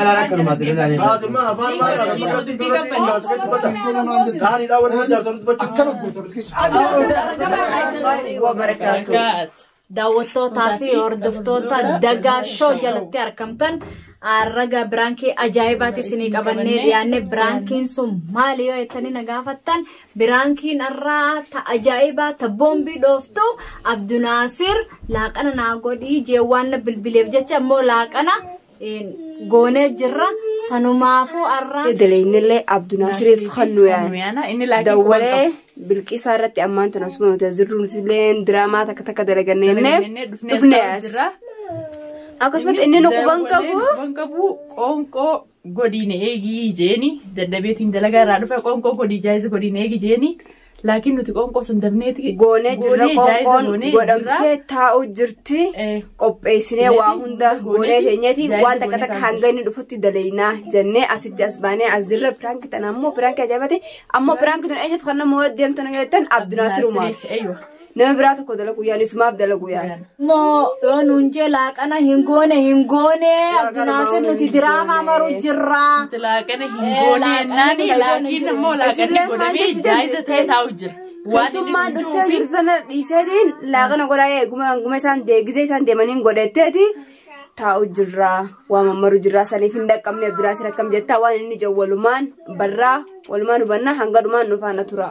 Fatima afaan maal haala duratti duratti hin jaalatu jechuudha. Taa'anii daawwanni hin jaalatu dubbachuu. Akkana guutuu. wabarakaatu. Daawwattootaa fi hordoftoota dagaa shoo jalatti argamtan raga biraankii ajaa'ibaati isinii qabannee dhiyaanne biraankiin sun maali yoo jettanii na gaafattan Biraankiin arraa ta ajaa'ibaa ta boombii dhooftu Abdunaasir laaqana naa godhii jee waan na bilbileef jecha immoo laaqana goonee jirra sanumaafuu arraa. Dalaynillee Abdunaasiriif kan nu yaana. Inni laaqii Dawwalee bilqisaa irratti ammaan tana osuma nuti as jirru nutillee diraamaa takka takka dalagannee jennee dhufnee as. Akkasumas inni nu quban qabu. Quban qabu qoonqoo godii na eegii jeeni dadhabeetiin dalagaa irraa dhufe qoonqoo godii jaayiza godii na eegi jeeni laakiin nuti qoonqoo san dabneeti goonee jirra qoonqoon godhamtee taa'u jirti qopheessinee waa hunda goonee keenyati waan takka takka hanga inni dhufutti daleeynaa jennee asitti as baanee as jirra piraanki tana ammoo piraanki ajaa'ibate ammoo piraanki tun eenyuuf kan nama deemtu na jettan abdinaasirumaaf. Nama biraa tokko dalaguu yaala isumaaf dalaguu yaala. Moo yoo nuun jee laaqana hin goone hin goone abdunaasir nuti diraamaa maruu jirra. Laaqana hin Eh, goone laaqana jennaan hin goone laakiin jiru. immoo laaqanni Isillee maal godhamee jechuun jaayisa ta'ee teess- taa'u jira. Waan inni Keessummaan hunduu dhuftee fi- jirtu sana dhiiseetiin laaqana godhaa eeguma hanguma isaan deegisee isaan deemaniin godhatteeti taa'u jirra waa mammaru jirra saniif hin dhaqqabne abduraasir akkam jettaa waan inni jawwalumaan barraa walumaan hubannaa hanga dhumaan nufaana tura.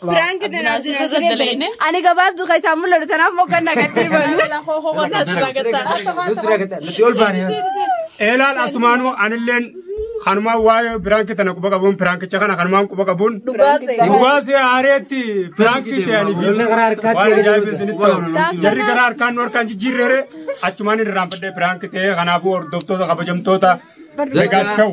Piraank tanaaf jira siree Ani gabaabduu keessaa mul'atu tanaaf moggannaa gaddii balu. Eelaan asumaanuu anilleen kanumaan waa'ee piraanki tana quba qabuun piraankicha kana kanumaan quba qabuun dhugaa see haareetti piraanki se'anii fi waan ajaa'ibaa isinitti ta'u jarri gara harkaan nu harkaan jijjiirreere achumaan irraanfadhee piraanki ta'ee kanaafuu hordoftoota kabajamtoota Megaa Show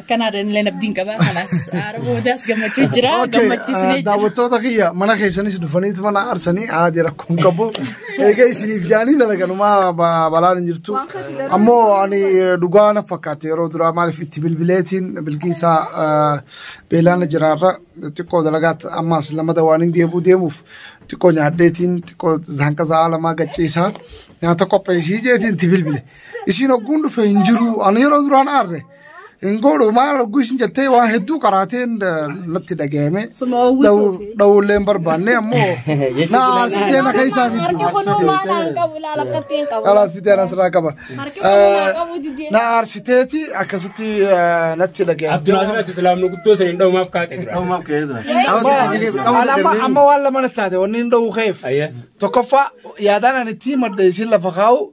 Akkanaadhaan illee abdiin qaba. Kalaas haara boodaas gammachuu jira. Gammachiisnee jira. Daawwattoota kiyya mana keessanis dhufaniitu mana aarsanii haadhi rakkoon qabu. Egaa isiniif jaanii dalaganumaa balaan hin jirtu. Ammoo ani dhugaa na fakkaate yeroo duraa maaliif itti bilbileetiin bilkiisaa beelaana jiraarra xiqqoo dalagaatti ammaas lamada waan hin deebuu deemuuf xiqqoo nyaadheetiin xiqqoo hanqasa haalamaa gachiisaa nyaata qopheessii jeetiin itti bilbile. Isiin hogguun dhufe hin jiru. Ani yeroo duraan aarre hin godhu maal hogguu isin jettee waan hedduu qaraateen natti dhaga'ame. Suma hawwisuuf. Dhawullee hin barbaanne ammoo na aarsitee na keessaa Harki bitti. kun uumaa naan qabu ilaala akkatti hin qabu. Alaaf fideen asirraa qaba. Harki kun uumaa qabu didee. Na aarsiteeti akkasitti eh, natti dhaga'ame. Abdurrahman ati islaamni guddoo sana hin dhawumaaf kaate jira. Dhawumaaf ka'ee jira. Ani amma amma waan lama natti taate wanni hin dhawuu ka'eef. Ayyee. Tokkoffaa yaadaan ani ittiin madde isin lafa kaa'u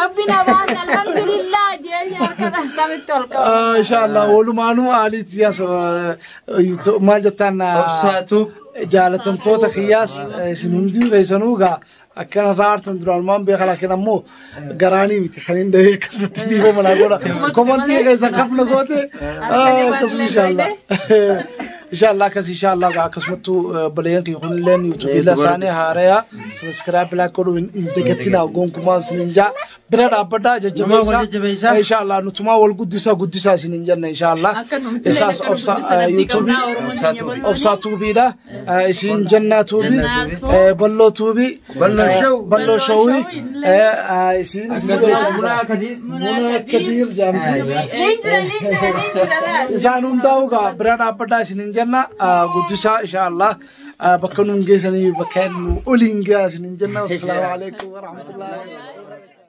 Rabbi namaan alhamdulillah jeenya harkadha samitti ol qabu. Ah, Inshallah walumaanuu haaliitti yaas ah, to- maal jettaan ah, Obsaatu. jaalatamtoota kiyyaas eh, isin hundii keessanuu gaa akkana irraa aartan duraan waan beekan laakiin ammoo garaanii miti kan hin dhahee akkasumatti dhiifama naa godha komantii keessa kafna goote ah, akkasuma inshallah. Inshallah akkas inshallah gaa akkasumattuu eh, obboleeyyan kiyya kunilleen yuutuubiila isaanii haaraya sabiskiraayib laak godhuu hin hin dagatinaa gonkumaa isinin jaa bira dhaabbadhaa Namaa wal jajjabeessaa jajjabeessaa. inshallah nutumaa wal guddisaa guddisaa isinin jenna inshallah Akkasumatti illee isaas akka obsa nuti eh, sanatti yuutuubii qabnaa Oromoon keenya bal'oo. obsaa tuubiidha eh, isin jennaa tuubii Jennaa tuubii. eh, balloo tuubii Balloo shawii isiin Munaa kadiir. Munaa kadiir jaamti. Isaan hundaa'u gaa bira dhaabbataa isin hin jenna guddisaa inshaallah bakka nuun geessanii bakka nu oliin gaa isin hin jenna. Assalaamu alaikum warahmatullahi wabarakatuh.